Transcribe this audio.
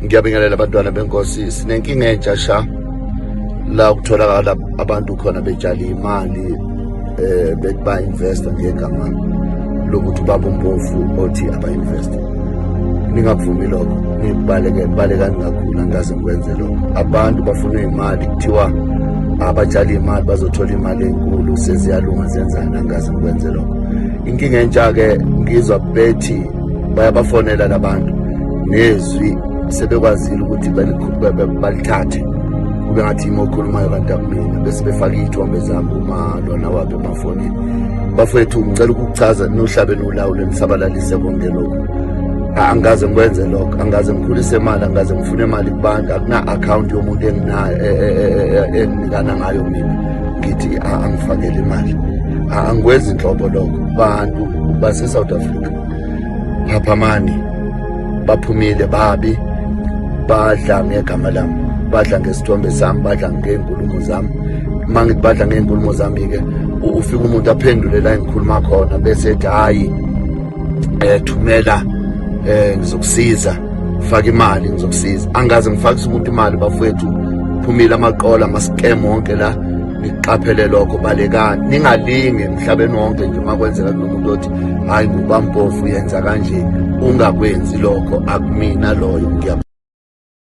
ngiyabingelela abantwana benkosi sinenkinga entsha sha la kutholakala abantu khona betshale imali eh bethi ba invest ngegama lokuthi baba umpofu othi aba invest ningavumi lokho nibaleke baleka ningakhula ngaze ngikwenze lokho abantu bafuna imali kuthiwa abatshale imali bazothola imali enkulu seziyalunga zenzana ngaze ngikwenze lokho inkinga entsha ke ngizwa bethi bayabafonela labantu nezwi sebekwazile ukuthi balithathe kube ngathi yimi okhulumayo kanti akumina bese befake iy'thombe zami uma lona wabe emafonini bafowethu ngicela ukukuchaza nohlabe nolawulo nisabalalise konke lokhu angikaze ngikwenze lokho angikaze ngikhulise imali angikaze ngifune imali kubantu akuna-akhawunti yomuntu enginayo e, e, e, enginikana ngayo mina ngithi angifakele imali angikwenzi nhlobo lokho bantu base-south africa Phaphamani baphumile babi badla ngegama lami badla ngesithombe sami badla ngey'nkulumo zami uma ngithi badla ngey'nkulumo zami-ke ufika umuntu aphendule la engikhuluma khona bese ethi hhayi um thumela um ngizokusiza faka imali ngizokusiza angaze ngifakise umuntu imali bafowethu phumile amaqola ama-scam wonke la niqaphele lokho balekani ningalinge emhlabeni wonke nje uma kwenzeka kunomuntu othi hayi ngubampofu yenza kanje ungakwenzi lokho akumina loyo